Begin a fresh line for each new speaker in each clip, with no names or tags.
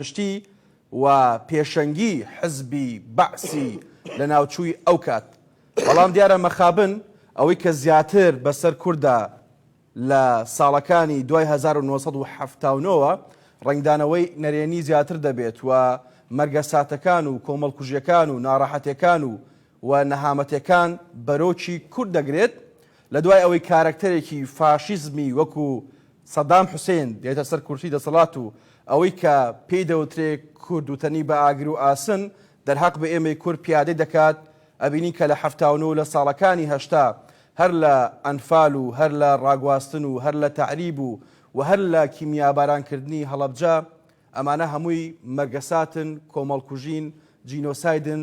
پشتی و پێشەنگی حزبی بەعسی لەناوچووی ئەو کات، بەڵام دیارە مەخابن ئەوەی کە زیاتر بەسەر کورددا لە ساڵەکانی دوای هەزار و نۆ سەد و حەفتا و نۆ وە ڕەنگدانەوەی نەرێنی زیاتر دەبێت و مەرگەساتەکان و کۆمەڵکوژیەکان و ناڕەحەتێکان و و نەهامەتێکان بەرۆکی کورد دەگرێت لەدوای ئەوەی کارەکتەرێکی فاشیزمی وەکو سەدام حوسێن دێتە سەر کورسی دەسەڵات و ئەوەی کە پێی دەوترێ کورد و تەنی بە ئاگر و ئاسن دەرهەق بە ئێمەی کورد پیادەی دەکات، ئەبینین کە لە حەفتا و نۆ لە ساڵەکانی هەشتا هەر لە ئەنفال و هەر لە ڕاگواستن و هەر لە تەعریب و و هەر لە کیمیاباران کردنی هەڵەبجە ئەمانە هەمووی مەرگەساتن، کۆمەڵکوژین، جینۆسایدن،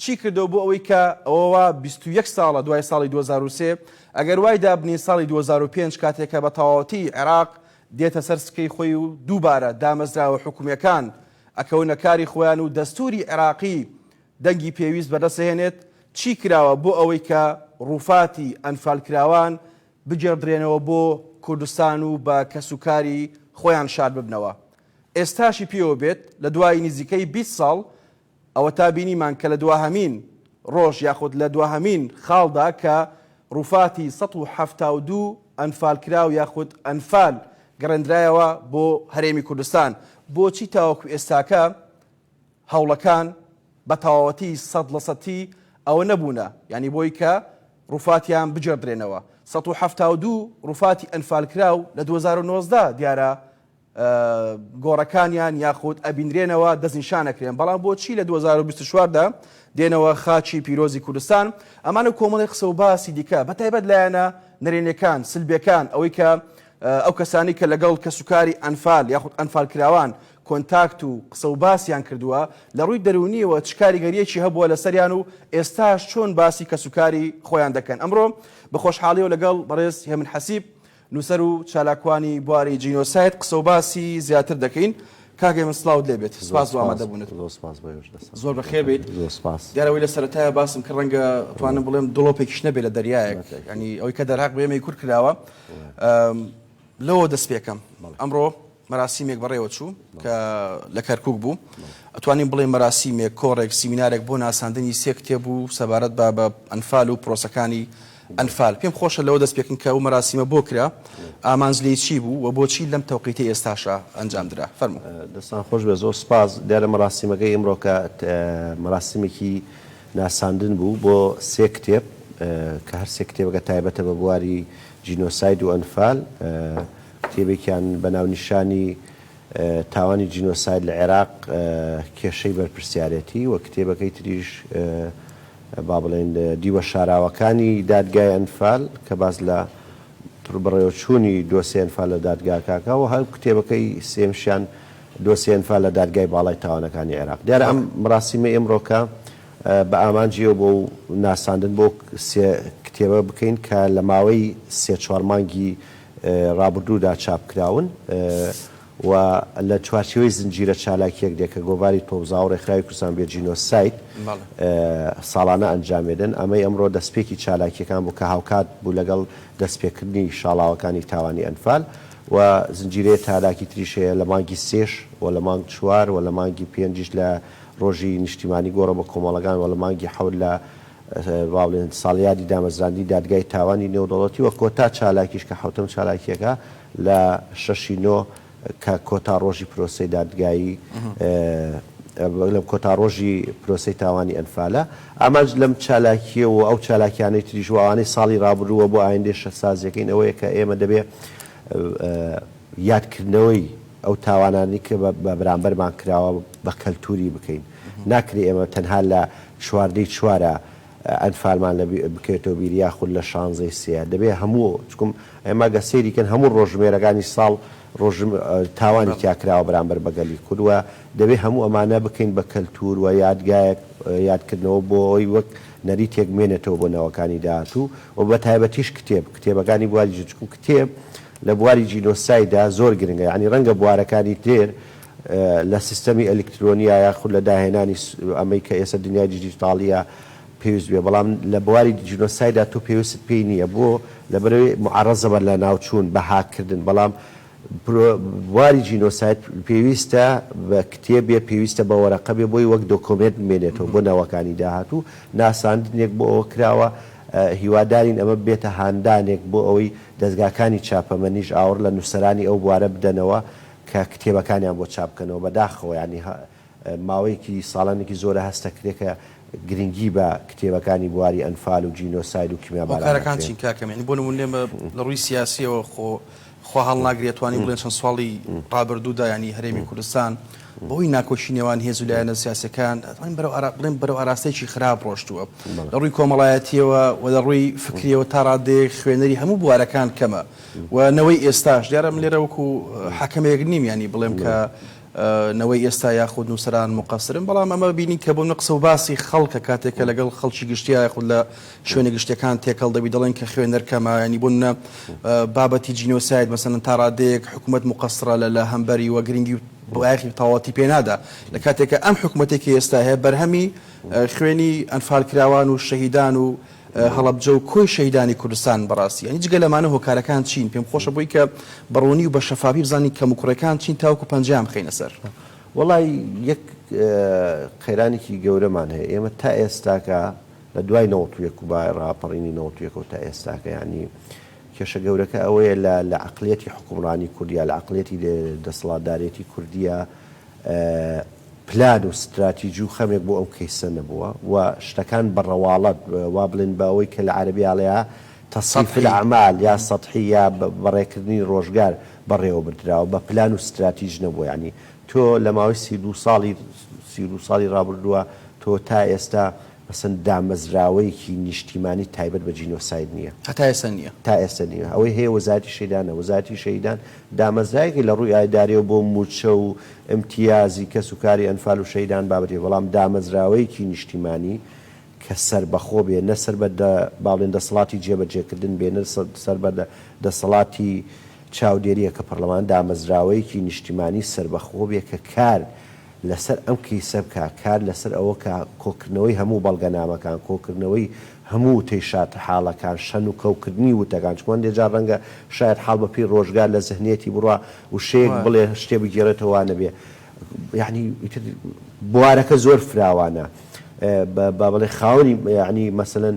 چی کردەوە بۆ ئەوەی کە ئەوە وا بیست و یەک ساڵە دوای ساڵی دوو هەزار و سێ ئەگەر وای دابنێین ساڵی دوو هەزار و پێنج کاتێک کە بە تەواوەتی عێراق دێتە سەر سکەی خۆی و دووبارە دامەزراوە حکومیەکان ئەکەونە کاری خۆیان و دەستوری عێراقی دەنگی پێویست بەدەست ئەهێنێت چی کراوە بۆ ئەوەی کە ڕووفاتی ئەنفالکراوان بگێڕدرێنەوە بۆ کوردستان و بە کەس و کاری خۆیان شاد ببنەوە ئێستاشی پێوە بێت لە دوای نزیکەی بیست ساڵ ئەوەتا بینیمان کە لە دواهەمین ڕۆژ یاخود لە دواهەمین خاڵدا کە ڕووفاتی سەد و حەفتا و دوو ئەنفالکراو یاخود ئەنفال گەڕێندرایەوە بۆ هەرێمی کوردستان، بۆچی تاوەکو ئێستاکە هەوڵەکان بە تەواوەتی سەد لە سەتی ئەوە نەبوونە یانی بۆی کە ڕووفاتیان بگێڕدرێنەوە؟ سەد و حەفتا و دوو ڕووفاتی ئەنفالکراو لە دوو هەزار و نۆزدە دیارە گۆڕەکانیان یاخود ئەبینرێنەوە دەستنیشان ئەکرێن بەڵام بۆچی لە دوو هەزار و بیست و چوار دا دێنەوە خاکی پیرۆزی کوردستان ئەمانە و کۆمەڵێ قسە و باسی دیکە بە تایبەت لایەنە نەرێنیەکان سلبیەکان ئەوەی کە ئەو کەسانی کە لەگەڵ کەسوکاری ئەنفال یاخود ئەنفال کراوان کۆنتاکت و قسە و باسیان کردووە لە ڕووی دەروونیەوە چ کاریگەریەکی هەبووە لەسەریان و ئێستاش چۆن باسی کەسوکاری خۆیان دەکەن ئەمڕۆ بە خۆشحاڵیەوە لەگەڵ بەڕێز هێمن حەسیب نووسەر و چالاکوانی بواری جینۆساید قسە و باسی زیاتر دەکەین. کاک هێمن سڵاوت لێ بێت. سپاس بۆ ئامادەبوونت. زۆر سپاس بۆ ئێوەش دەستان خۆش. زۆر بەخێر بێیت. زۆر سپاس. دیارە ئەوەی لە سەرەتایە باسم کرد ڕەنگە بتوانم بڵێم دڵۆپێکیش نەبێت لە دەریایەک. یانی ئەوەی کە دەرهەق بە ئێمەی کورد کراوە لەوەوە دەست پێکەم. ئەمڕۆ مەراسیمێک بەڕێوە چوو کە لە کەرکووک بوو، ئەتوانین بڵێین مەراسیمێک، کۆڕێک، سیمینارێک بۆ ناساندنی سێ کتێب بوو سەبارەت بە بە ئەنفال و پرۆسەکانی ئەنفال. پێم خۆشە لەوە دەست پێ بکەین کە ئەو مەراسیمە بۆ کرا، ئامانج لێی چی بوو و بۆچی لەم تەوقیتەی ئێستاشا ئەنجام درا؟ فەرموو. دەستان خۆش بێت، زۆر
سوپاس. دیارە مەراسیمەکەی ئیمڕۆکە مەراسیمێکی ناساندن بوو بۆ سێ کتێب کە هەر سێ کتێبەکە تایبەتە بە بواری جینۆساید و ئەنفال. کتێبێکیان بە ناونیشانی، تاوانی جینۆساید لە عێراق، کێشەی بەرپرسیارێتی، و کتێبەکەی تریش با بڵێین دیوە شاراوەکانی دادگای ئەنفال کە باس لە بەڕێوەچوونی دۆسێی ئەنفال لە دادگاکاکە و هەر کتێبەکەی سێیەمشیان دۆسێی ئەنفال لە دادگای باڵای تاوانەکانی عێراق. دیارە ئەم مراسیمەی ئیمڕۆکە بە ئامانجی ئەو بۆ و ناساندن بۆ سێ کتێبە بکەین کە لە ماوەی سێ چوار مانگی ڕابردوودا چاپکراون و لە چوارچێوەی زنجیرە چالاکییەک دێ کە گۆڤاری تۆوزاو و ڕێکخراوی کوردستان بێ جینۆساید ساڵانە ئەنجامێدن. ئەمەی ئەمڕۆ دەستپێکی چالاکییەکان بوو کە هاوکات بوو لەگەڵ دەستپێکردنی شاڵاوەکانی تاوانی ئەنفال و زنجیرەیە تالاکی تریش هەیە لە مانگی سێش و لە مانگ چوار و لە مانگی پێنجیش لە ڕۆژی نیشتیمانی گۆڕە بە کۆمەڵەگان و لە مانگی حەوت لە وابڵێن ساڵیادی دامەزراندنی دادگای تاوانی نێودەوڵەتی و کۆتا چالاکیش کە حەوتەم چالاکیەکە لە شەش ی نۆ کە کۆتا ڕۆژی پرۆسەی دادگایی بەگلم کۆتا ڕۆژی پرۆسەی تاوانی ئەنفالە ئامانج لەم چالاکیە و ئەو چالاکیانەی تریژ و ئەوانەی ساڵی ڕابرووە بۆ ئایندێ شەسازیەکەین ئەوەیە کە ئێمە دەبێ یادکردنەوەی ئەو تاوانانی کە بە بەرامبەرمان کراوە بە کەلتوری بکەین ناکری ئێمە تەنها لە چواردەی چوارە ئەنفالمان لە بکەوێتەوە بیر یاخود لە شانزەی سێ دەبێ هەموو چکم ئەی مەگە سەیری کەن هەموو ڕۆژژمێرەکانی ساڵ ڕۆژ تاوانی تیا کراوە بەرامبەر بە گەلی کورد وە دەبێ هەموو ئەمانە بکەین بە کەلتور وە یادگایەک یادکردنەوە بۆ ئەوەی وەک نەریتێک مێنێتەوە بۆ نەوەکانی داهاتوو وە بە تایبەتیش کتێب کتێبەکانی بواری جچکم کتێب لە بواری جینۆسایدا زۆر گرنگە یانی ڕەنگە بوارەکانی تر لە سیستەمی ئەلیکترۆنییە یاخود لە داهێنانی ئەمەی کە ئێستا دنیای دیجیتاڵییە پێویست بێ بەڵام لە بواری جینۆسایدا تۆ پێویستت پێی نییە بۆ؟ لەبەرەوەی معەڕەزە بە لەناوچوون بە هاک کردن بەڵام برۆ بواری جینۆساید پێویستە بە کتێب بێ پێویستە بە وەرەقە بێ بۆی وەک دۆکۆمێنت بمێنێتەوە بۆ نەوەکانی داهاتوو ناساندنێک بۆ ئەوە کراوە هیوادارین ئەمە ببێتە هاندانێک بۆ ئەوەی دەزگاکانی چاپەمەنیش ئاوڕ لە نووسەرانی ئەو بوارە بدەنەوە کە کتێبەکانیان بۆ چاپ بکەنەوە بەداخەوە یانی ماوەیەکی ساڵانێکی زۆرە هەست ئەکرێ کە گرنگی بە کتێبەکانی بواری ئەنفال و جینۆساید و کیمیا باران نەکرێ. هۆکارەکان چین
کاکەم یانی بۆ نموونە ئێمە لە ڕووی سیاسیەوە خۆ خوا هەڵناگرێ توانین بڵێن چەند ساڵی ڕابردوو دا یانی هەرێمی کوردستان بە هۆی ناکۆکی نێوان هێز و لایەنە سیاسیەکان ئەتوانین بەرەو ئارا بڵێن بەرەو ئاراستەیەکی خراپ ڕۆشتووە لە ڕووی کۆمەڵایەتیەوە و لە ڕووی فکریەوە تا ڕادەیەک خوێنەری هەموو بوارەکان کەمە و نەوەی ئێستاش، دیارە من لێرە وەکو حەکەمێک نیم یانی بڵێم کە نەوەی ئێستا یاخود نووسەران موقەسرن، بەڵام ئەمە بینی کە بۆ منە قسە و باسی خەڵکە کاتێک کە لەگەڵ خەڵکی گشتیا یاخود لە شوێنە گشتیەکان تێکەڵ دەبی دەڵێن کە خوێنەر کەمە، یانی بۆ منە بابەتی جینۆساید مەسەلەن تا ڕادەیەک حکومەت موقەسرە لە لە هەمبەری وە گرنگی و بایەخی تەواوەتی پێ نادا، لە کاتێک کە ئەم حکومەتێکی ئێستا هەیە بەرهەمی خوێنی ئەنفالکراوان و شەهیدان و هەڵەبجە و کۆی شەهیدانی کوردستان بەڕاستی یانی جگە لەمانە هۆکارەکان چین پێم خۆشە بۆی کە بەڕوونی و بە شەفافی بزانین کەم و کوڕێکان چین تاوەکو پەنجەیان بخەینە سەر. وەڵای
یەک قەیرانێکی گەورەمان هەیە ئێمە تا ئێستاکە لە دوای نەوەت و یەک و با ڕاپەڕینی نەوەت و یەکەوە تا ئێستاکە یانی کێشە گەورەکە ئەوەیە لە لە عەقڵیەتی حوکمڕانی کوردیا لە عەقڵیەتی دەسەڵاتدارێتی کوردیە پلان و ستراتیجی و خەمێک بۆ ئەو کەیسە نەبووە و شتەکان بە ڕەواڵەت وا بڵێین بە ئەوەی کە لە عەرەبی ئەڵێا تصیف الاعمال یا سطحی یا بەڕێکردنی ڕۆژگار بەڕێوە بردراوە بە پلان و ستراتیج نەبووە یانی تۆ لە ماوەی سی و دوو ساڵی سی و دوو ساڵی ڕابردووە تۆ تا ئێستا ئەسڵەن دامەزراوەیەکی نیشتیمانی تایبەت بە جینۆساید نییە. هەتا ئێستا نییە. تا ئێستا نییە. ئەوەی هەیە وەزارەتی شەیدانە. وەزارەتی شەهیدان دامەزراوێکە لە ڕووی ئایدارییەوە بۆ مووچە و ئیمتیازی کەس و کاری ئەنفال و شەهیدان بابەتێکە، بەڵام دامەزراوەیەکی نیشتیمانی کە سەربەخۆ بێ، نە سەر بە با بڵێن دەسەڵاتی جێبەجێکردن بێ، نە سەر بە دەسەڵاتی چاودێرییە کە پەڕلەمان، دامەزراوەیەکی نیشتیمانی سەربەخۆ بێ کە کار لەسەر ئەم کەیسە بکا، کار لەسەر ئەوە کا کۆکردنەوەی هەموو بەڵگەنامەکان، کۆکردنەوەی هەموو وتەی شاتحاڵەکان، شەن و کەوکردنی وتەکان، چونکە هەندێ جار ڕەنگە شایەتحاڵ بە پێی ڕۆژگار لە زهنیەتی بڕوا وشەیەک بڵێ شتێ بگێڕێتەوە وا نەبێ یەعنی ئیتر بوارەکە زۆر فراوانە با بڵێ خاوەنی یەعنی مەسەلەن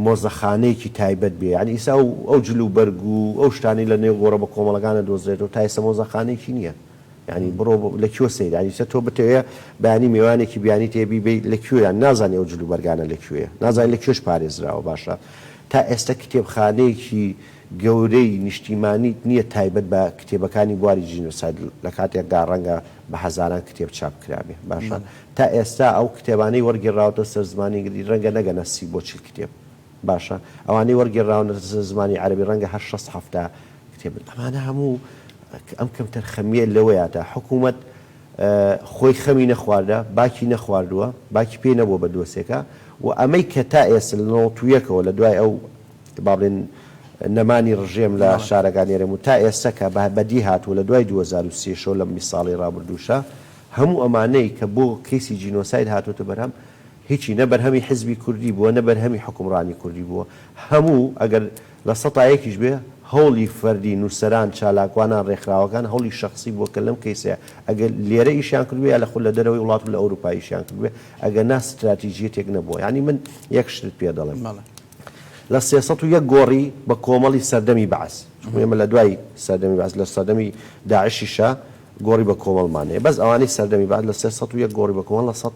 مۆزەخانەیەکی تایبەت بێ یەعنی ئیسا ئەو جل و بەرگ و ئەو شتانەی لە نێو گۆڕە بە کۆمەڵەکانە دۆزرێتەوە تا ئێستا مۆزەخانەیەکی نییە. یانی بڕۆ لە کوێ سەیری یانی چە تۆ بتەوێ بەیانی میوانێکی بیانی تێ بی بی لە کوێیان نازانی ئەو جل و بەرگانە لە کوێیە نازانی لە کوێش پارێزراوە باشە تا ئێستا کتێبخانەیەکی گەورەی نیشتیمانیت نییە تایبەت بە کتێبەکانی بواری جینۆساید لە کاتێکدا ڕەنگە بە هەزاران کتێب چاپ کرابێ باشە تا ئێستا ئەو کتێبانەی وەرگێڕاوەتە سەر زمانی ئینگلیزی ڕەنگە نەگەنە سی بۆ چل کتێب باشە ئەوانەی وەرگێڕراونە زمانی عەرەبی ڕەنگە هەر شەست حەفتا کتێب بن ئەمانە هەموو ئەم کەمتەرخەمییە لەوەیە تا حکوومەت خۆی خەمی نەخواردە باکی نەخواردووە باکی پێ نەبووە بە دۆسێکە و ئەمەی کە تا ئێستا لە نەوەت و یەکەوە لە دوای ئەو با بڵێن نەمانی ڕژێم لە شارەکانی هەرێم و تا ئێستا کە بەدی هاتووە لە دوای دوو هەزار و سێ شەو لەم بیست ساڵەی ڕابردووشە هەموو ئەمانەی کە بۆ کەیسی جینۆساید هاتووەتە بەرهەم هیچی نە بەرهەمی حیزبی کوردی بووە نە بەرهەمی حوکمڕانی کوردی بووە هەموو ئەگەر لە سەتا یەکیش بێ هەوڵی فەردی نووسەران چالاکوانان ڕێکخراوەکان هەوڵی شەخسی بووە کە لەم کەیسەیە ئەگەر لێرە ئیشیان کردبێ یا لە خولە دەرەوەی وڵات و لە ئەوروپا ئیشیان کردبێ ئەگەر نا ستراتیجیەتێک نەبووە یانی من یەک شتت پێ دەڵێم لە سێ سەد و یەک گۆڕی بە کۆمەڵی سەردەمی بەعس چونکو ئێمە لە دوای سەردەمی بەعس لە سەردەمی داعشیشە گۆڕی بە کۆمەڵمان هەیە بەس ئەوانەی سەردەمی بەعس لە سێ سەد و یەک گۆڕی بە کۆمەڵ لە سەد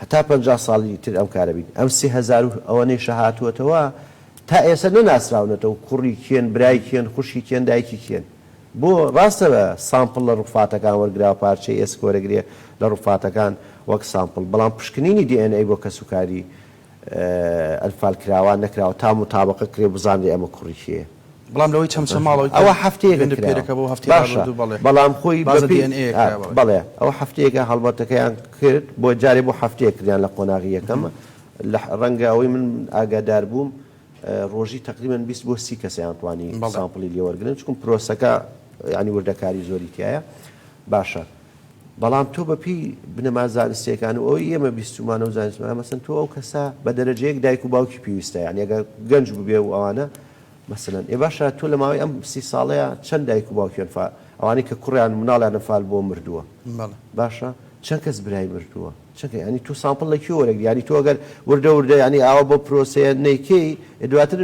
هەتا
پەنجا ساڵی تر ئەم کارە بین ئەم سێ هەزار و ئەوەنەی شە هاتووەتەوە تا ئێسە نەناسراونەتەوە کوڕی کێن برای کێن خوشکی کێن دایکی کێن بۆ ڕاستە سامپڵ لە ڕوفاتەکان وەرگراوە پارچەی ئێسک وەرەگرێ لە ڕوفاتەکان وەک سامپڵ بەڵام پشکنینی دی ئێن ئەی بۆ کەسوکاری ئەنفال کراوە نەکراوە تا موتابەقە کرێ بزانرێ ئەمە کوڕی کێیە. بەڵام لەوەی چەمچە
ماڵەوە کە ئەوە هەفتەیەکە گوێم لێ کراوە
پێرەکە بۆ هەفتەی باشە
ڕابردوو بەڵێ بەڵام
خۆی بازە بەپێی DNA یە کرا بەڵێ. بەڵێ ئەوە هەفتەیەکە هەڵمەتەکەیان کرد بۆ جارێ بۆ هەفتەیەک کردیان لە قۆناغی یەکەم لە ڕەنگە ئەوەی من ئاگادار بووم ڕۆژی تەقریبەن بیست بۆ سی کەسیان توانی بەڵێ. سامپڵی لێ وەرگرن چکم پرۆسەکە یانی وردەکاری زۆری تیایە باشە. بەڵام تۆ بە پێی بنەما زانستیەکان و ئەوەی ئێمە بیستومانە و زانستمانە مەسەن تۆ ئەو کەسە بە دەرەجەیەک دایک و باوکی پێویستە یان یەگە گەنج ببێ و ئەوانە مەسەن ئێ باشە تۆ لە ماوەی ئەم سی ساڵەیە چەند دایک و باوکیان فا ئەوانەی کە کوڕیان مناڵیان نەفال بۆ مردووە باشە چەند کەس برای مردووە چەکە ینی تو سامپل لە کی وەرەگری ینی تۆگەر وردە وردە ینی ئاوە بۆ پرۆسەیە نیکەی دواتر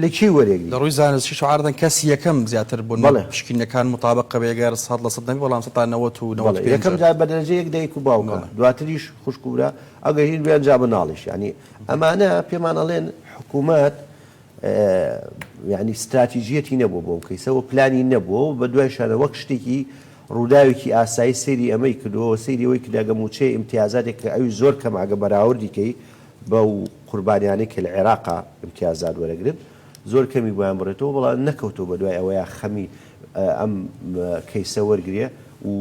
لە کێی وەرێگری؟ لە ڕووی زانستی شوعار
دەنگ کەسی یەکەم زیاتر بوون بەڵێ. پشکینەکان موتابەقە بێ گەر سەد لە سەد نەبێ بەڵام سەتا نەوەت و نەوەت بەڵێ پێنج یەکەم جار بە دەرەجە
یەک دایک و باوکە بەڵێ. دواتریش خوشک و برا ئەگەر هیر بیان جا مناڵیش یانی ئەمانە پێمان ئەڵێن حکومەت یانی ستراتیجیەتی نەبووە بۆ ئەو کەیسە و پلانی نەبووە و بە دوایشانە وەک شتێکی ڕووداوێکی ئاسایی سەیری ئەمەی کردووە و سەیری ئەوەی کردە ئەگە مووچەی ئیمتیازاتێک کە ئەویش زۆر کەمە ئەگە بەراوردی کەی بەو قوربانیانەی کە لە عێراقا ئیمتیازات وەرەگرن زۆر کەمی بۆیان بڕێتەوە بەڵام نەکەوتەوە بە دوای ئەوەیا خەمی ئەم کەیسە وەرگرێ و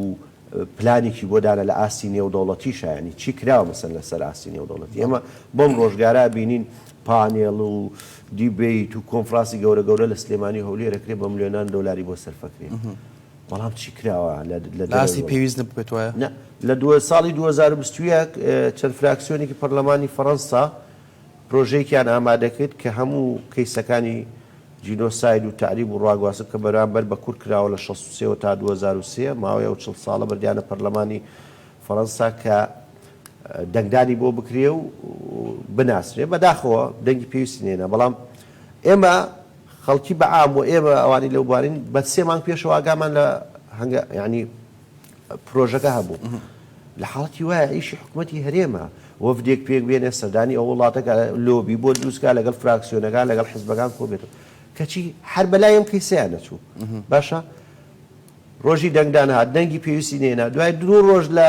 پلانێکی بۆ دانە لە ئاستی نێودەوڵەتیشا یانی چی کراوە مەسەن لە سەر ئاستی نێودەوڵەتی ئێمە بەم ڕۆژگارە بینین پانێڵ و دیبەیت و کۆنفڕاسی گەورە گەورە لە سلێمانی و هەولێر ئەکرێ بە ملێۆنان دۆلاری بۆ سەرفەکرێ بەڵام چی کراوە لە لە دەرەوەی ئاستی وڵات؟ پێویست نەبووبێت
وایە؟ نە، لە دوو ساڵی
دوو هەزار و بیست و یەک چەند فراکسیۆنێکی پەرلەمانی فەرەنسا پرۆژەیەکیان ئامادە کرد کە هەموو کەیسەکانی جینۆساید و تەعریب و ڕاگواستن کە بەرامبەر بە کورد کراوە لە شەست و سێ وە تا دوو هەزار و سێ ماوەی ئەو چڵ ساڵە بردیانە پەرلەمانی فەرەنسا کە دەنگدانی بۆ بکرێ و بناسرێ بەداخەوە دەنگی پێویستی نەهێنا بەڵام ئێمە خەڵکی بە عام و ئێمە ئەوانەی لەو بوارەین بە سێ مانگ پێشەوە ئاگامان لە هەنگا یانی پرۆژەکە هەبوو لە حاڵەتی وایە ئیشی حکوومەتی هەرێمە وەفدێک پێک بێنێ سەردانی ئەو وڵاتەکە لۆبی بۆ دروستکە لەگەڵ فراکسیۆنەکان لەگەڵ حزبەکان کۆبێتەوە کەچی هەر بەلای ئەم کەیسەیان نەچوو باشە ڕۆژی دەنگدان هات دەنگی پێویستی نێنا دوای دوو ڕۆژ لە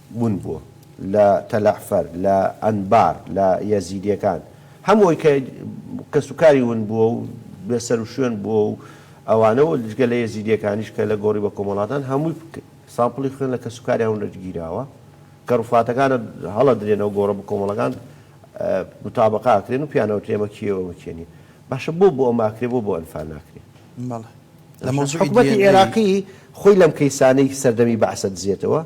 بوون بووە لە تەلەعفەر، لە ئەنبار، لە یەزیدیەکان هەموو ئەوەی کە کەس و کاری ون بووە و بێ سەر و شوێن بووە و ئەوانە و جگە لە یەزیدیەکانیش کە لە گۆڕی بە کۆمەڵ هاتان هەمووی سامپڵی خوێن لە کەس و کاریان ونەجی گیراوە کە ڕوفاتەکانە هەڵە درێنە و گۆڕە بکۆمەڵەکان متابقە ئەکرێن و پیانە ئەوترێ ئەمە کێیە و ئەمە کێ نیە باشە بۆ بۆ ئەمە ئەکرێ بۆ بۆ ئەنفال ناکرێ؟ حکومەتی عێراقی خۆی لەم کەیسانەی سەردەمی بەعسە دزێتەوە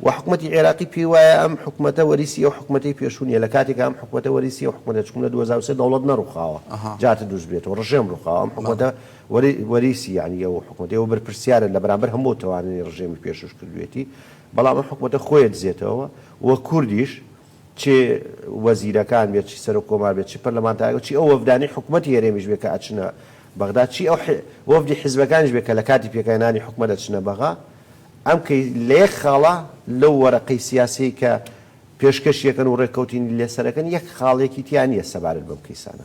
و حکومەتی عێراقی پێی وایە ئەم حکومەتە وەریسی ئەو حکومەتەی پێشوو نیە لە کاتێکا ئەم حکومەتە وەریسی ئەو حکومەتە چکوم لە دوو هەزار و سێ دەوڵەت نەڕوخاوە جارت دروست بێت و ڕژێم ڕوخاوە ئەم حکومەتە وەریسی یانی ئەو حکومەتە ئێوە بەرپرسیارن لە بەرامبەر هەموو ئەو تاوانەی ڕژێمی پێشووش کردوێتی بەڵام ئەم حکومەتە خۆیە دزێتەوە و کوردیش چ وەزیرەکان بێت، چ سەرۆک کۆمار بێت، چ پەرلەمانتارەکان و چی ئەو وەفدانەی حکومەتی هەرێمیش بێت کە ئەچنە بەغدا، چی ئەو وەفدی حیزبەکانیش بێت کە لە کاتی پێکهێنانی حکومەت ئەچنە بەغا، ئەم کەی لە یەک خاڵە لەو وەرەقەی سیاسیەی کە پێشکەشی ئەکەن و ڕێککەوتینی لێ سەر ئەکەن یەک خاڵێکی تیا نیە سەبارەت بەم کەیسانە.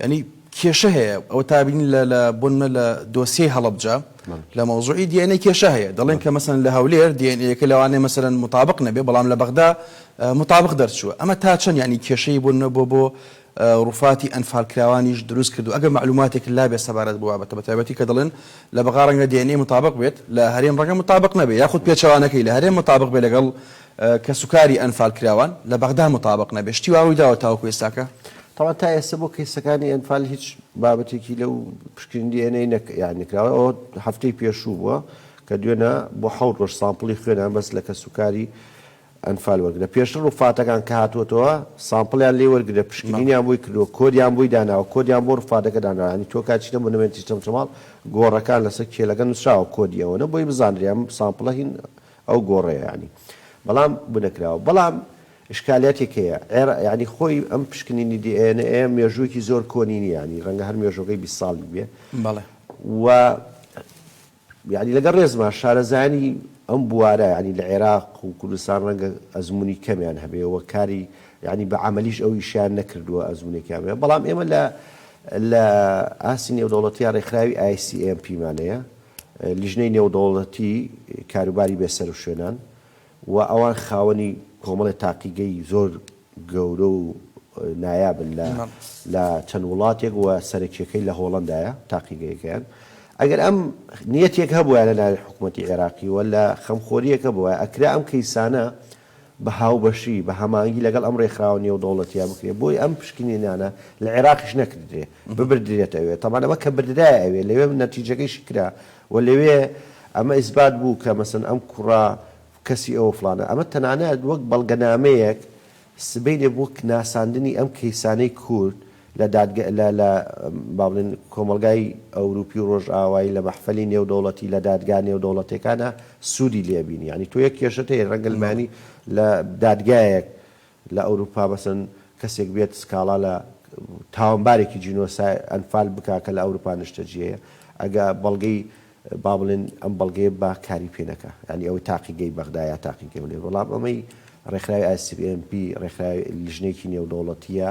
یانی کێشە هەیە ئەوە تا بینین لە لە بۆ نمونە لە دۆسیەی هەڵەبجە لە مەوزوعی دی ئێن ئەی کێشە هەیە دەڵێن کە مەسەن لە هەولێر دی ئێن ئەیەکە لەوانەیە مەسەن مطابق نەبێ بەڵام لە بەغدا مطابق دەرچووە ئەمە تا چەند یانی کێشەی بۆ نمونە بۆ بۆ ڕوفاتی ئەنفالکراوانیش دروست کردو ئەگەر معلوماتێک لابێ سەبارەت بۆ بابەتە بە تایبەتی کە دەڵێن لە بەغا ڕەنگە دی ئێن ئەی مطابق بێت لە هەرێم ڕەنگە مطابق نەبێ یاخود پێچەوانەکەی لە هەرێم مطابق بێ لەگەڵ کەسوکاری ئەنفال کراوان لە بەغدا متابق نەبێت شتی وا ڕوویداوە تاوەکو ئێستاکە؟ تاوان تا ئێستا
بۆ کەیسەکانی ئەنفال هیچ بابەتێکی لەو پشکنین دی ئێن ئەی نەکراوە ئەوە هەفتەی پێشوو بووە کە دوێنە بۆ حەوت ڕۆژ سامپڵی خوێنیان بەس لە کەسوکاری ئەنفال وەرگرە پێشتر ڕوفاتەکان کە هاتووەتەوە سامپڵیان لێ وەرگرە پشکنینیان بۆی کردووە کۆدیان بۆی داناوە کۆدیان بۆ ڕوفاتەکە داناوە یانی تۆ کات چیتە مۆنومێنتی چەمچەماڵ گۆڕەکان لەسەر کێلەکە نووسراوە کۆدی ئەوەنە بۆی بزانرێ ئەم سامپڵە هین ئەو گۆڕەیە یانی بەڵام بونەکراوە بەڵام ئشکالیاتێک هەیە عێر یانی خۆی ئەم پشکنینی دی ئێ نە ئێ مێژووێکی زۆر کۆنی نیە یانی ڕەنگە هەر مێژۆکەی بیست ساڵی بێ بەڵێ و یانی لەگەڵ ڕێزما شارەزایانی ئەم بوارە یانی لە عێراق و کوردستان ڕەنگە ئەزموونی کەمیان هەبێ وە کاری یانی بە عەمەلیش ئەو ئیشیان نەکردووە ئەزموونێکیان بێ بەڵام ئێمە لە لە ئاستی نێودەوڵەتیا ڕێکخراوی ICMP مانەیە لیژنەی نێودەوڵەتی کاروباری بێ سەروشوێنان و ئەوان خاوەنی کۆمەڵێ تاقیگەی زۆر گەورە و نایابن لە لە چەند وڵاتێک و سەرەکیەکەی لە هۆڵەندایە تاقیگەیەکەیان ئەگەر ئەم نیەتێک هەبوایە لە ناوی حکومەتی عێراقیوە لە خەمخۆریەکە بوایە ئەکرا ئەم کەیسانە بە هاوبەشی، بە هەمانگی لەگەڵ ئەم رێکخراوە نێودەوڵەتییە بکرێت، بۆی ئەم پشکنینانە لە عێراقیش نەکردرێ، ببردرێت ئەوێ، تەبعەن ئەمە کە بردرایە ئەوێ، لەوێ نەتیجەکەیشی کرا و لەوێ ئەمە ئیسبات بوو کە مەسەلەن ئەم کوڕە کەسی ئەوە فڵانە، ئەمە تەنانەت وەک بەڵگەنامەیەک سبەینێ وەک ناساندنی ئەم کەیسانەی کورد لە دادگە لە لە با بڵێن کۆمەڵگای ئەوروپی و ڕۆژئاوایی لە مەحفەلی نێودەوڵەتی لە دادگا نێودەوڵەتێکانا سوودی لێ بینی یانی تۆ یەک کێشەت هەیە ڕەنگە لمانی لە دادگایەک لە ئەوروپا مەسەن کەسێک بێت سکاڵا لە تاوانبارێکی جینۆسای ئەنفال بکا کە لە ئەوروپا نشتەجێیە ئەگا بەڵگەی با بڵێن ئەم بەڵگەیە با کاری پێ نەکا یانی ئەوەی تاقیگەی بەغدا یا تاقیگەی هەولێر بەڵام ئەمەی ڕێکخراوی ICMP ڕێکخراوی لیژنەیەکی نێودەوڵەتییە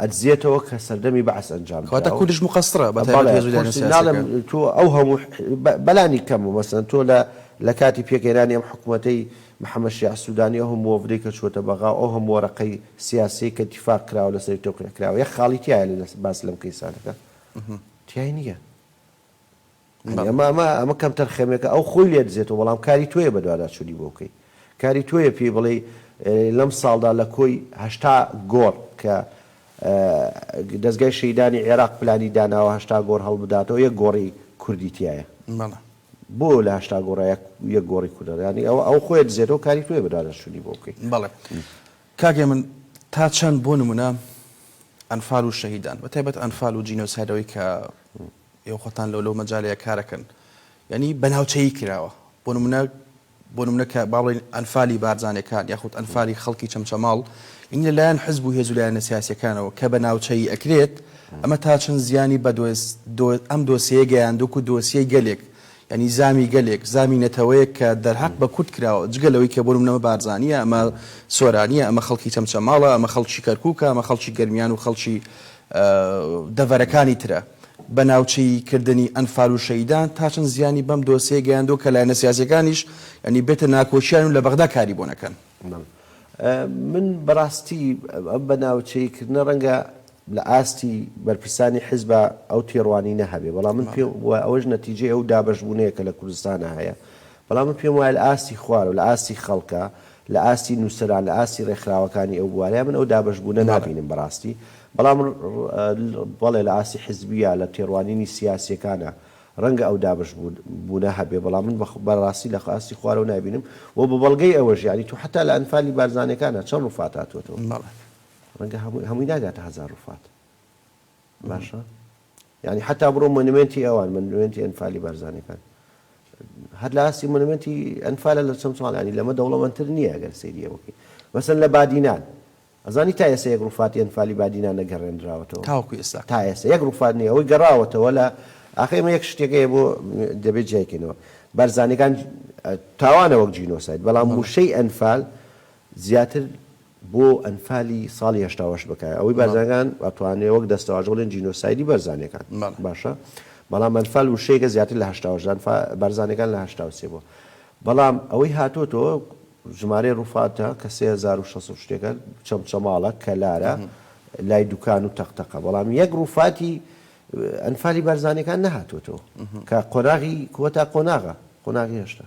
ئەدزێتەوە کە سەردەمی بەعس ئەنجام درا. کەواتە کوردیش موقەسرە
بە تایبەت بەڵێ هێزو لایەنە قورسی ناڵێم
سیاسیەکان. تۆ ئەو هەموو بەلانی کەم مەسەلەن تۆ لە لە کاتی پێکهێنانی ئەم حکومەتەی محمد شیاع سودانی ئەو هەموو وەڤدەی کە چووەتە بەغا و ئەو هەموو وەرەقەی سیاسیەی کە اتفاق کراوە لەسەری تەوقیع کراوە یەک خاڵی تیایە لە باس لەم کەیسانەکە تیای نیە. ئەمە ئەمە ئەمە کەمتەر خەمێکە ئەو خۆی لێ دزێتەوە بەڵام کاری تۆیە بەدواداچوونی بۆ بکەی کاری تۆیە پێی بڵێی لەم ساڵدا لە کۆی هەشتا گۆڕ کە دەستگای شەیدانی عێراق پلانی داناوە هەشتا گۆڕ هەڵبداتەوە یەک گۆڕی کوردی تیایە بەڵێ بۆ لە هەشتا گۆڕە یەک گۆڕی کوردەدانی ئەوە ئەو خۆی دزێتەوە کاری تۆیە بەدواداچوونی بۆ بکەی بەڵێ.
کاک هێمن تا چەند بۆ نمونە ئەنفال و شەهیدان بە تایبەت ئەنفال و جینۆسایدەوەی کە ئێوە خۆتان لەو لەو مەجالەیە کارەکەن یعنی بە ناوچەیی کراوە بۆ نمونە بۆ نمونە کە باڵێن ئەنفالی بارزانەکان یاخود ئەنفالی خەڵکی چەمچەماڵ یعنی لەلایەن حزب و هێز و لایەنە سیاسیەکانەوە کە بە ناوچەیی ئەکرێت ئەمە تا چەند زیانی بە ئەم دۆسیەیە گەیاندوک و دۆسیەی گەلێک یانی زامی گەلێک، زامی نەتەوەیەک کە دەرهەق بە کورد کراوە، جگە لەوەی کە بۆ نمونە ئەمە بارزانییە، ئەمە سۆرانییە، ئەمە خەڵکی چەمچەماڵە، ئەمە خەڵکی کەرکوکە، ئەمە خەڵکی گەرمیان و خەڵکی دەڤەرەکانی ترە. بە ناوچەیی کردنی ئەنفال و شەهیدان تا چەند زیانی بەم دۆسیەیە گەیاندووە کە لایەنە سیاسیەکانیش یانی بێتە ناکۆکیان و لە بەغدا کاری بۆ نەکەن.
من بەڕاستی ئەم بە ناوچەیی کردنە ڕەنگە لە ئاستی بەرپرسانی حیزبا ئەو تێڕوانینە هەبێ بەڵام من پێم وایە ئەوەش نەتیجەی ئەو دابەشبوونەیە کە لە کوردستانا هەیە بەڵام من پێم وایە لە ئاستی خوارەوە لە ئاستی خەڵکا لە ئاستی نووسەران لە ئاستی ڕێکخراوەکانی ئەو بوارەیا من ئەو دابەشبوونە نابینم بەڕاستی بەڵام بەڵێ لە ئاستی حیزبییا لە تێڕوانینی سیاسییەکانا ڕەنگە ئەو دابەشبوونە هەبێ بەڵام من بەڕاستی لە ئاستی خوارەوە نابینم و بە بەڵگەی ئەوەش یانی تۆ حەتا لە ئەنفالی بارزانییەکانا چەند ڕووفات هاتووەتەوە. ڕەنگە هەمووی هەمووی ناگاتە هەزار ڕوفات باشە یعنی حتا بڕۆ مۆنیمێنتی ئەوان مۆنیمێنتی ئەنفالی بارزانەکان هەر لە ئاستی مۆنیمێنتی ئەنفالە لە چەند ساڵ ینی لەمە دەوڵەمەندتر نییە گەر سریە بکەین مەسن لە بادینان ئەزانی تا ئێستا یەک ڕوفاتی ئەنفالی بادینا نەگەڕێنراوەتەوە تاوەکو ئێستا تا
ئێستا یەک ڕوفات
نیە ئەوەی گەڕاوەتەوە لە ئاخێمە یەک شتێکەیە بۆ دەبێت جیایکەینەوە بارزانەکان تاوانە وەک جینۆسایت بەڵام وشەی ئەنفال زیاتر بۆ ئەنفالی ساڵی هەشتا و هەشت بکایە ئەوەی بارزانیەکان ئەتوانێ وەک دەستەواژە بڵێن جینۆسایدی بەرزانیەکان باشە بەڵام ئەنفال وشەیەکە زیاتر لە هەشتا و هەشت ئەنفا بارزانیەکان لە هەشتا و سێ بووە بەڵام ئەوەی هاتۆتەوە ژمارەی ڕوفاتە کە سێ هەزار و شەست و شتێکە چەمچەماڵە کەلارە لای دوکان و تەقتەقە بەڵام یەک ڕوفاتی ئەنفالی بارزانیەکان نەهاتۆتەوە کە قۆناغی کۆتا قۆناغە قۆناغی هێشتا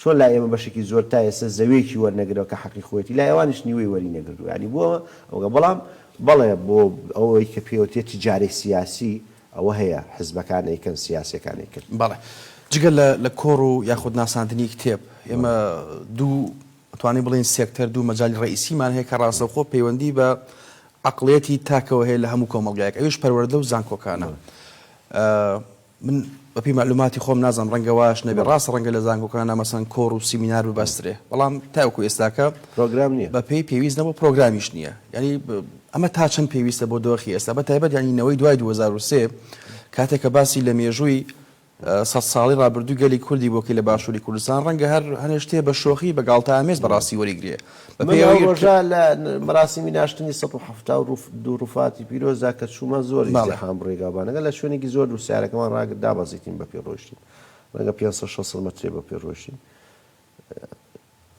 چۆن لای ئێمە بەشێکی زۆر تا ئێستا زەویەکی وەرنەگرەوە کە حەقی خۆیەتی لای ئەوانیش نیوەی وەری نەگردووە یانی بۆ ئەوە بەڵام بەڵێ بۆ ئەوەی کە پێوتێ تجارەی سیاسی ئەوە هەیە حزبەکان ئەیکەن سیاسیەکان ئەیکەن. بەڵێ جگە
لە لە کۆڕ و یاخود ناساندنی کتێب ئێمە دوو ئەتوانین بڵێین سێکتەر دوو مەجالی ڕەئیسیمان هەیە کە ڕاستەوخۆ پەیوەندی بە عەقڵیەتی تاکەوە هەیە لە هەموو کۆمەڵگایەک ئەویش پەروەردە و زانکۆکانە. من بە پێی مەعلوماتی خۆم نازانم ڕەنگە واش نەبێ ڕاستە ڕەنگە لە زانکۆکانە مەسەن کۆڕ و سیمینار ببەسترێ بەڵام تاوەکو ئێستاکە پرۆگرام نییە بە پێی
پێویست نەبوو
پرۆگرامیش نییە یعنی ئەمە تا چەند پێویستە بۆ دۆخی ئێستا بە تایبەت ینی نەوەی دوای 2023 کاتێکە باسی لە مێژووی سەد ساڵی ڕابردوو گەلی کوردی بۆکەی لە باشووری کوردستان ڕەنگە هەر هەنێشتێ بە شۆخی بە گاڵتە ئامێز بەڕاستی وەریگرێ من ئەو ڕۆژە
لە مەراسیمی ناشتنی سەد و حەفتا و دوو ڕووفاتی پیرۆزدا کە چوومە زۆر ئیزدیحام بوو ڕێگابانەکە لە شوێنێکی زۆر دوور سەیارەکەمان ڕاگرت دابەزیتین بەپێ ڕۆیشتین ڕەنگە پێنج سەد شەست سەد مەترێ بەپێ ڕۆیشتین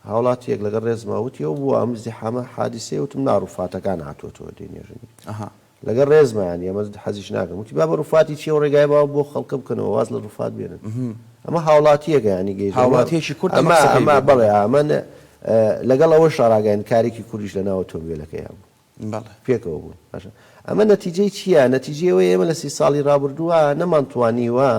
هاوڵاتییەک لەگەڵ ڕێزما وتی ئەو بووە ئەم ئیزدیحامە حادیسەیە وتم نا ڕووفاتەکان هاتووەتەوە دێنێژن ئەها لەگەڵ ڕێزمان ئێمە حەزیش ناکەن وتی بابە ڕوفاتی چیە و ڕێگای باو بۆ خەڵکە بکەنەوە واز لە ڕوفات بێنن ئەمە هاوڵاتیەکە ینی گەی هاوڵاتیەکی کورد ئەمە
ئەمە بەڵێ ئەمە
لەگەڵ ئەوە شاراگەین کارێکی کوردیش لە ناوە تۆمبیلەکەیان بوو پێکەوە بوون باشە ئەمە نەتیجەی چییە نەتیجەوە ئێمە لە سی ساڵی رابردووە نەمانتوانیوە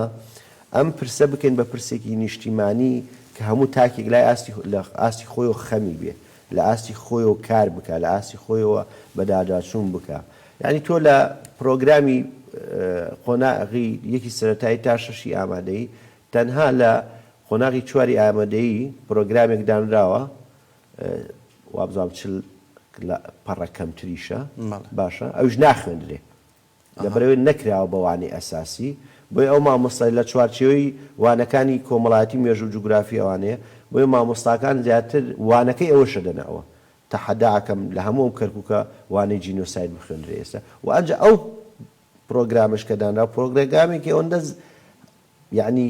ئەم پرسە بکەین بە پرسێکی نیشتیمانی کە هەموو تاکێک لای ئاستی لە ئاستی خۆی و خەمی بێ لە ئاستی خۆیەوە کار بکا لە ئاستی خۆیەوە بەداداچوون بکا یانی تۆ لە پرۆگرامی قۆناغی یەکی سەرەتایی تا شەشی ئامادەیی تەنها لە قۆناغی چواری ئامەدەیی پرۆگرامێک دانراوە وابزانم چل پەڕە کەمتریشە باشە ئەویش ناخوێندرێ لە بەرەوێ نەکراوە بە وانەی ئەساسی، بۆیە ئەو مامۆستای لە چوارچێوەی وانەکانی کۆمەڵایەتی و مێژوو و جوگرافی ئەوانەیە، بۆیە مامۆستاکان زیاتر وانەکەی ئەوە شەدەنەوە. تەحەدا ئەکەم لە هەموو ئەم کەرکوکە وانەی جینۆساید بخوێندرێ ئێستا و ئەنجا ئەو پرۆگرامەش کە دانراوە پرۆگرگامێکی ئەوەندە یەعنی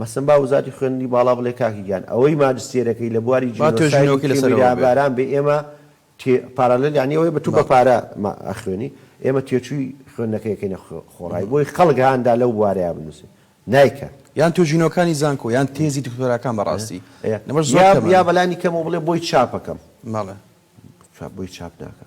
مەسن با وزاتی خوێندنی باڵا بڵێ کاکی گیان ئەوەی ماجستێرەکەی لە بواری با توێژینەوەکەی جینۆسایدی لەسەرەوە بێ. تێمیراباران بێ ئێمە تێ پارالێل یانی ئەوەی بە تو بە بەڵێ. پارە ما ئەخوێنی ئێمە تێچووی خوێندنەکەی ئەکەینە خۆ خۆڕای بۆی خەڵک هان دا لەو بوارەیا بنووسێ نایکا. یان توێژینەوەکانی
زانکۆ یان تێزی دکتۆراکان بە ڕاستی ئێ لەمەش یا زۆر یا کەمن.
بەلانی کەمەوە بڵێ بۆی چاپ ئەکەم. بەڵێ.
چاپ بۆی
چاپ ناکا.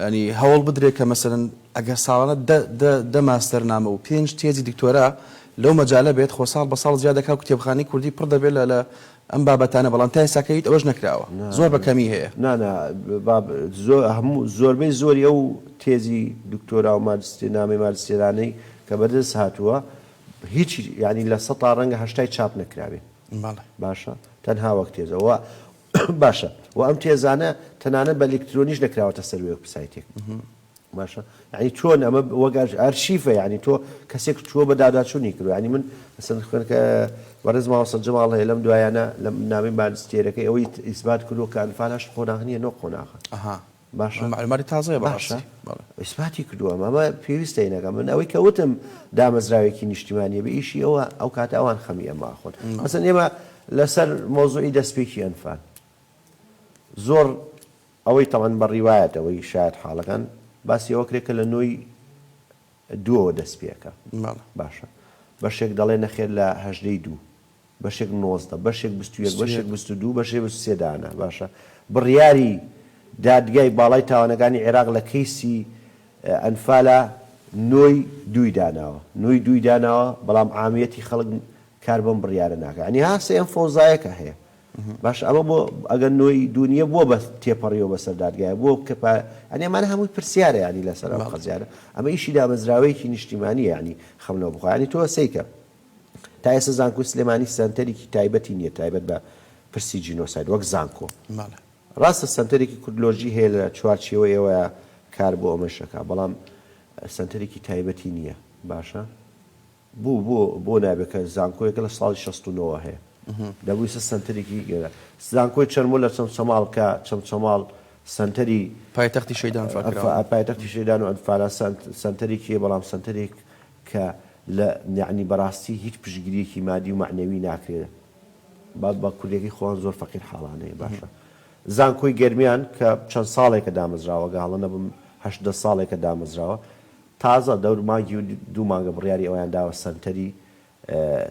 یانی هەوڵ بدرێت کە مەسەلەن ئەگەر ساڵانە دە دە دە ماستەرنامە و پێنج تێزی دکتۆرا لەو مەجالە بێت خۆ ساڵ بە ساڵ زیاد دەکا و کتێبخانەی کوردی پڕ دەبێت لە لە ئەم بابەتانە بەڵام تا ئێستاکە هیچ ئەوەش نەکراوە زۆر بە کەمی هەیە. نا نا با زۆ هەموو
زۆربەی زۆری ئەو تێزی دکتۆرا و ماجستێ نامەی ماجستێرانەی کە بە دەست هاتووە هیچی یانی لە سەتا ڕەنگە هەشتای چاپ نەکرابێ بەڵێ باشە تەنها وەک تێزە وە باشە وە ئەم تێزانە تەنانەت بە لکترۆنیش نەکراوەتە سەر وێب سایتێک باشە یعنی چۆن ئەمە وەگەر ئەرشیفە یعنی تۆ کەسێک چووە بە داداچوونی کرد ینی من ئەسن خوێنکە بەڕێز ماوەسە جەماڵ هەیە لەم دوایانە لە نامی بانستێرەکەی ئەوەی ئیسبات کردو کە ئەنفال هەشت قۆناغ نیە نۆ قۆناغە باشە؟ مەعلوماتی تازەیە
بەڕاستی. باشە؟ بەڵێ.
ئیسباتی کردووە، ئەمە پێویستە ئینەکە، من ئەوەی کە وتم دامەزراوێکی نیشتیمانییە بە ئیشی ئەوە، ئەو کاتە ئەوان خەمی ئەمە ئەخۆن. مەسەلەن ئێمە لە سەر مەوزوعی دەستپێکی ئەنفال، زۆر ئەوەی تەبعەن بە ڕیوایەت ئەوەی شایەت حاڵەکان باسی ئەوە کرێ کە لە نۆی دووەوە دەست پێ ئەکا. بەڵێ. باشە؟ بەشێک دەڵێ نەخێر لە هەژدەی دوو. بەشێک نۆزدە، بەشێک بیست و یەک، بیست و بەشێک یەک. بیست و دوو، بەشێک بیست و سێ دانە. باشە بڕیاری دادگای باڵای تاوانەکانی عێراق لە کەیسی ئەنفالا نۆی دووی داناوە. نۆی دووی داناوە، بەڵام عامیەتی خەڵک کار بەم بڕیارە ناکا. یانی ها سێ ئەم فەوزایە کە هەیە. باشە ئەمە بۆ ئەگەر نۆی دوو نییە بۆ بە تێپەڕیوە بەسەر دادگایە؟ بۆ کە پا یانی ئەمانە هەمووی پرسیارە یانی لەسەر ئەم بەڵێ. قەزیانە. ئەمە ئیشی دامەزراوەیەکی نیشتیمانییە یانی خەم لەوە بخوا. یانی تۆ سەیکە. تا ئێستا زانکۆی سلێمانی سەنتەرێکی تایبەتی نییە تایبەت بە پرسی جینۆساید وەک زانکۆ. ڕاستە سەنتەرێکی کوردلۆژی هەیە لە چوارچێوەی ئەوەیا کار بۆ ئەمەش ئەکا بەڵام سەنتەرێکی تایبەتی نییە باشە بوو بۆ بۆ نابێت کە زانکۆیەکە لە ساڵی شەست و نۆ هەیە دەبوویسە سەنتەرێکی گەرە زانکۆی چەرمۆ لە چەمچەماڵ کە چەمچەماڵ سەنتەری پایتەختی شەیدان
فا پایتەختی شەیدان
و ئەنفالا سەنت سەنتەرێکی بەڵام سەنتەرێک کە لە یەعنی بەڕاستی هیچ پشتگیریەکی مادی و مەعنەوی ناکرێ با بە کوردیەکەی خۆان زۆر فەقیر حاڵانەیە باشە زانکۆی گەرمیان کە چەند ساڵێکە دامەزراوە گە هەڵە نەبم هەشت دە ساڵێکە دامەزراوە تازە دەور مانگی و دوو مانگە بڕیاری ئەویان داوە سەنتەری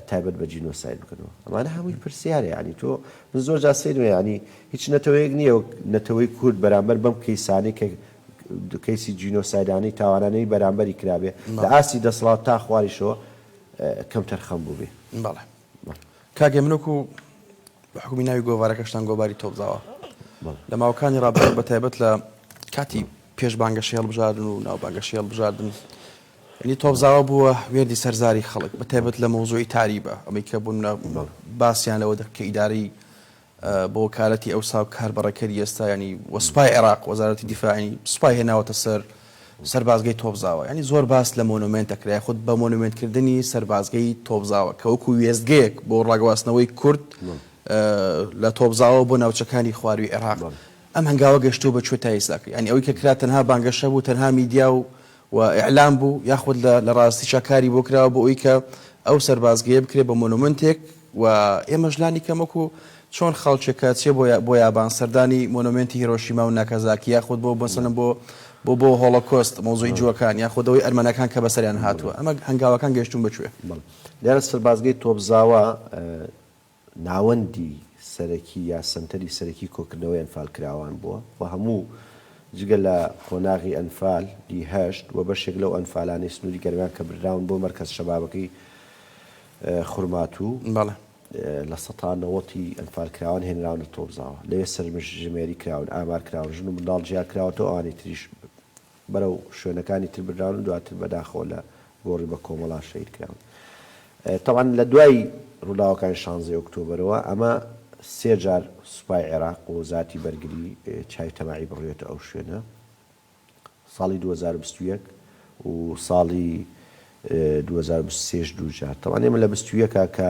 تایبەت بە جینۆساید بکەنەوە ئەمانە هەمووی پرسیارە یانی تۆ من زۆر جا سەیرمە ینی هیچ نەتەوەیەک نییە نەتەوەی کورد بەرامبەر بەم کەیسانەی کە کەیسی جینۆسایدانەی تاوانانەی بەرامبەری کرابێ لە ئاستی دەسڵات تا خواریشەوە کەمتەرخەم بووبێ. بەڵێ
کاکێ من وەکو بە حکومی ناوی گۆڤارەکەشتان گۆباری تۆپزاوە لە ماوەکانی ڕابردوو بە تایبەت لە کاتی پێش بانگەشی هەڵبژاردن و ناو بانگەشی هەڵبژاردن ینی تۆپزاوە بووە وێردی سەرزاری خەڵک بە تایبەت لە مۆزۆی تاریبە ئەمەی کە بوون باستیان لەوە دەکە ئیداری بۆ وەکالەتی ئەوسا و کاربەڕێکەری ئێستا یانی و سوپای عێراق، وەزارەتی دیفاع یانی سوپای هێناوەتە سەر سەربازگەی تۆپزاوە. یانی زۆر باس لە مۆنۆمێنت ئەکرێ یاخود بە مۆنۆمێنت کردنی سەربازگەی تۆپزاوە کە وەکوو وێستگەیەک بۆ ڕاگواستنەوەی کورد لە تۆپزاوە بۆ ناوچەکانی خوارووی عێراق. ئەم هەنگاوە گەشتووە بە کوێ تا ئیستا؟ یانی ئەوەی کە کرا تەنها بانگەشە بوو تەنها میدیا و و ئیعلام بوو یاخود لە لە ڕاستیشا کاری بۆ کراوە بۆ ئەوی کە ئەو سەربازگەیە بکرێ بە مۆنۆمنتێک و ئێمەش لانی کەم وەکوو چۆن خەڵکێک کە چێ بۆ بۆ یابان سەردانی مۆنۆمێنتی هیرۆشیما و ناکازاکی یاخود بۆ مەسەلەن بۆ بۆ بۆ هۆڵۆکۆست مەوزووی جووەکان یاخود ئەوەی ئەرمەنەکان کە بەسەریان هاتووە ئەمە هەنگاوەکان گەیشتوون بە کوێ؟ بەڵێ لێرە سەربازگەی
تۆپزاوا ناوەندی سەرەکی یا سەنتەری سەرەکی کۆکردنەوەی ئەنفالکراوان بووە و هەموو جگە لە قۆناغی ئەنفال ی هەشت و بەشێک لەو ئەنفالانەی سنووری گەرمیان کە بردراون بۆ مەرکەز شەبابەکەی خورماتوو بەڵێ. لە سەتا نەوەتی ئەنفالکراوان هێنراونە تۆپزاوە لەوێ سەرژمێری کراون، ئامارکراون، ژن و منداڵ جیاکراوەتەوە ئەوانی تریش بەرەو شوێنەکانی تر براون و دواتر بەداخەوە لە گۆڕی بە کۆمەڵا شەهید کراون. تەبعەن لە دوای ڕووداوەکانی شانزەی ئۆکتۆبەرەوە ئەمە سێ جار سوپای عێراق و وەزارەتی بەرگری چاوی تەماعی بڕیوەتە ئەو شوێنە، ساڵی دوو هەزار و بیست و یەک و ساڵی دوو هەزار و بیست و سێ ش دوو جار. تەبعەن ئێمە لە بیست و یەک کە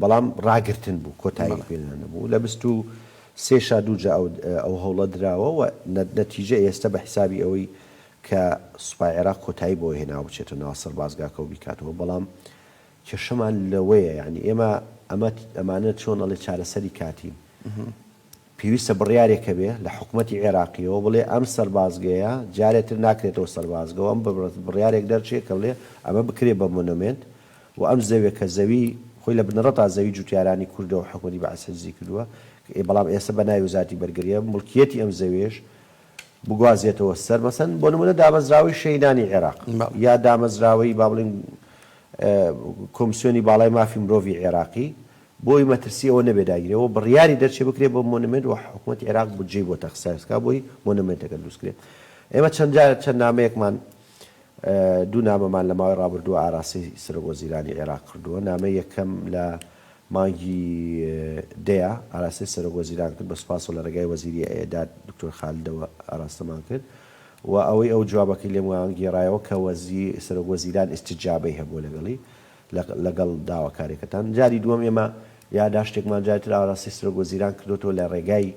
بەڵام ڕاگرتن بوو کۆتایی بەڵێ. پێ نانەبوو لە بیست و سێ شا دووجا ئەو ئەو هەوڵە دراوە و نە نەتیجە ئێستە بە حیسابی ئەوەی کە سوپای عێراق کۆتایی بەوە هێناوە بچێتە ناو سەربازگاکە و بیکاتەوە بەڵام کێشەمان لەوەیە یانی ئێمە ئەمە ئەمانە چۆن ئەڵێ چارەسەری کاتین پێویستە بڕیارێک هەبێ لە حکومەتی عێراقییەوە بڵێ ئەم سەربازگەیە جارێ تر ناکرێتەوە سەربازگە و ئەم بڕیارێک دەرچێ کە بڵێ ئەمە بکرێ بە مۆنۆمێنت و ئەم زەویە کە زەوی خۆی لە بنەڕەتا زەوی جوتیارانی کوردە و حکومەتی بەعس حیجزی کردووە بەڵام ئێستا بە ناوی وەزارەتی بەرگرییە موڵکییەتی ئەم زەویەش بگوازێتەوە سەر مەسەن بۆ نموونە دامەزراوەی شەهیدانی عێراق یا دامەزراوەی با بڵێین کۆمسیۆنی باڵای مافی مرۆڤی عێراقی بۆی مەترسی ئەوە نەبێ داگیرێ و بڕیاری دەرچێ بکرێ بۆ مۆنمێنت و حکومەتی عێراق بودجەی بۆ تەخساس کا بۆی مۆنمێنتەکە دروست کرێ ئێمە چەند جار چەند نامەیەکمان دوو نامەمان لە ماوەی ڕابردووە ئاراستەی سەرۆک وەزیرانی عێراق کردووە نامەی یەکەم لە مانگی دەیە ئاراستەی سەرۆک وەزیران کرد بە سوپاس و لە ڕێگای وەزیری ئێداد دکتۆر خالدەوە ئاراستەمان کرد و ئەوەی ئەو جوابەکەی لێمان گێڕایەوە کە وەزی سەرۆک وەزیران ئیستیجابەی هەبووە لەگەڵی لەگەڵ داواکاریەکەتان. جاری دووەم ئێمە یاداشتێکمان جاری تر ئاراستەی سەرۆک وەزیران کردۆتەوە لە ڕێگای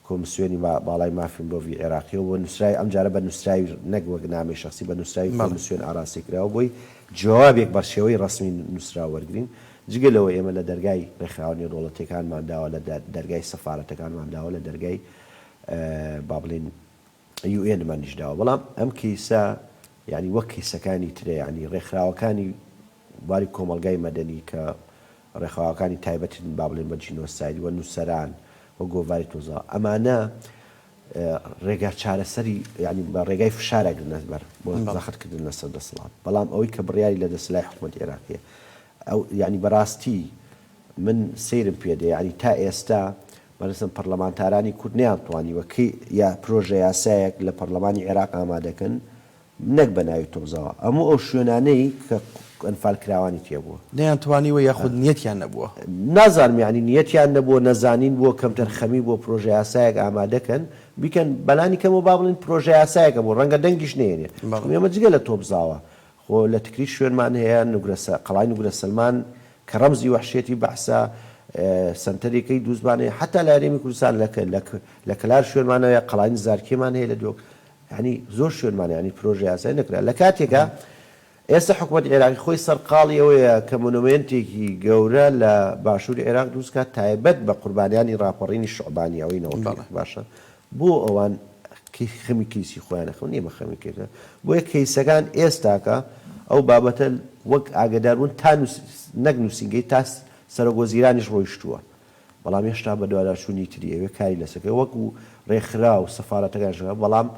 کۆمسیۆنی باڵای مافی مرۆڤی عێراقیەوە بۆ نوسراوی ئەم جارە بە نوسراوی نەک وەک نامەی شەخسی بە نوسراوی کۆمسیۆن ئاراستەی کراوە بۆی جوابێک بە شێوەی ڕەسمی نوسراو وەرگرین جگە لەوە ئێمە لە دەرگای ڕێکخراوە نێودەوڵەتیەکانمان داوە لە دەرگای سەفارەتەکانمان داوە لە دەرگای با بڵێین یو ئێن مانیش داوە بەڵام ئەم کەیسە یانی وەک کەیسەکانی ترە یانی ڕێکخراوەکانی بواری کۆمەڵگای مەدەنی کە ڕێخاوەکانی تایبەتن با بڵێن بە جینۆساید وە نووسەران وە گۆڤاری تۆزا ئەمانە ڕێگا چارەسەری یانی بە ڕێگای فشار ئەگرنە بەر بۆ زەخت کردن لەسەر دەسەڵات بەڵام ئەوەی کە بڕیاری لە دەسلای حکوومەت عێراقیە ئەو یانی بەڕاستی من سەیرم پێ دێ یانی تا ئێستا بەڕێزم پەڕلەمانتارانی کورد نەیانتوانیوە کەی یا پرۆژە یاسایەک لە پەڕلەمانی عێراق ئامادە کەن نەک بە ناوی تۆزەوە ئەموو ئەو شوێنانەی کە ئەنفال کراوانی تێ بووە. نەیانتوانیوە یاخود
نیەتیان نەبووە؟ نازانم یەعنی
نیەتیان نەبووە نەزانین بووە کەمتەرخەمی بووە پرۆژە یاسایەک ئامادە کەن بیکەن بەلانی کەمەوە با بڵێن پرۆژە یاسایەکە بوو ڕەنگە دەنگیش نەیەنێ چونکە ئێمە جگە لە تۆبزاوە خۆ لە تکریت شوێنمان هەیە، نوگرەسە، قەڵای نوگرە سەلمان، کە ڕەمزی وەحشیەتی بەعسە، سەنتەریکەی دووزمان هەیە، حەتا لە هەرێمی کوردستان لە کە لە کە لە کەلار شوێنمان هەیە، قەڵای نزارکێمان هەیە لە دهۆک، یانی زۆر شوێنمان هەیە، یانی پرۆژە یاسای نەکرا. لە کاتێکا ئێستا حکومەتی عێراقی خۆی سەرقاڵی ئەوەیە کە مۆنۆمێنتێکی گەورە لە باشووری عێراق دروست کات تایبەت بە قوربانیانی ڕاپەڕینی شوعبانی ئەوەی نەوەکەی باشە، بۆ ئەوان خەمی کەیسی خۆیانە خەم نیە بە خەمی کەیسە بۆیە کەیسەکان ئێستاکە ئەو بابەتە وەک ئاگەداربوون تا نەک نووسینگەی تا سەرۆک وەزیرانیش ڕۆیشتووە بەڵام هێشتا بەدواداچوونی تری ئەوێ کاری لەسەکە وەکو ڕێکخراو سەفارەتەکانش بەڵام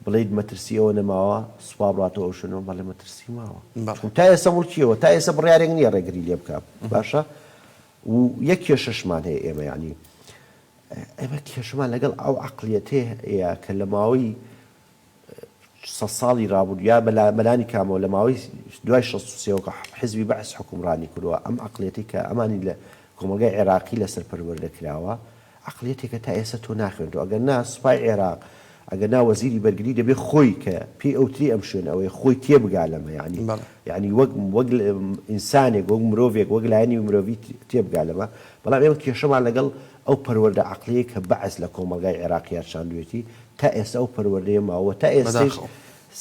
بڵێیت مەترسی ئەوە نەماوە سوپا بڕاتەوە ئەو شوێنەوە بەڵێ مەترسی ماوە چون تا ئێستا موڵکیەوە تا ئێستا بڕیارێک نییە ڕێگری لێ بکا باشە و یەک کێشەشمان هەیە ئێمە یانی ئێمە کێشەمان لەگەڵ ئەو عەقڵیەتەیە کە لە ماوەی سەد ساڵی رابوردو یا بەلانی کامەوە لە ماوەی دوای شەست و سێ وەکو حزبی بەعس حوکمڕانی کردوە، ئەم عەقڵیەتەی کە ئەمانی لە کۆمەڵگای عێراقی لەسەر پەروەردە کراوە، عەقڵیەتێکە تا ئێستا تۆ ناخوێنیتەوە، ئەگەر نا سوپای عێراق ئەگەر نا وەزیری بەرگری دەبێ خۆی کە پێی ئەوترێ ئەم شوێنە ئەوەیە خۆی تێبگا لەمە یانی بەڵێ. یانی وەک وەک ئینسانێک وەک مرۆڤێک وەک لایەنی مرۆڤی تێبگا لەمە بەڵام ئێمە کێشەمان لەگەڵ ئەو پەروەردە عەقڵیەی کە بەعس لە کۆمەڵگای عێراقیا چاندوێتی تا ئێستا ئەو پەروەردەیە ماوە و تا ئێستەیش بەداخەوە.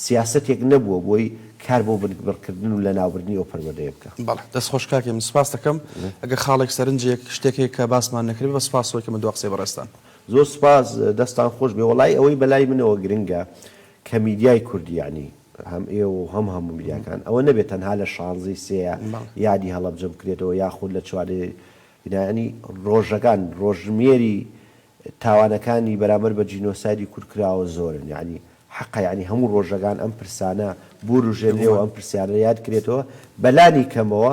سیاسەتێک نەبووە بۆی کار بۆ بنکبڕکردن و لەناوبردنی ئەو پەروەردەیە بکا. بەڵێ دەست خۆش کاکی من
سپاست دەکەم. ئەگەر خاڵێک سەرنجێک شتێک هەیە کە باسمان نەکردبێ بە سپاسەوە کە من دوا قسەی بەڕێزتان. زۆر سوپاس
دەستان خۆش بێ وەڵایی ئەوەی بەلای منەوە گرنگە کە میدیای کوردی یانی هەم ئێوە و هەم هەموو میدیاکان ئەوە نەبێت تەنها لە شانزەی سێیە یادی هەڵەبجە بکرێتەوە یاخود لە چوارێ بینایانی ڕۆژەکان ڕۆژژمێری تاوانەکانی بەرامبەر بە جینۆسایدی کورد کراوە زۆرن یانی حەقە یانی هەموو ڕۆژەکان ئەم پرسانە بوروژێنرێەوە ئەم پرسیارە یاد کرێتەوە بەلانی کەمەوە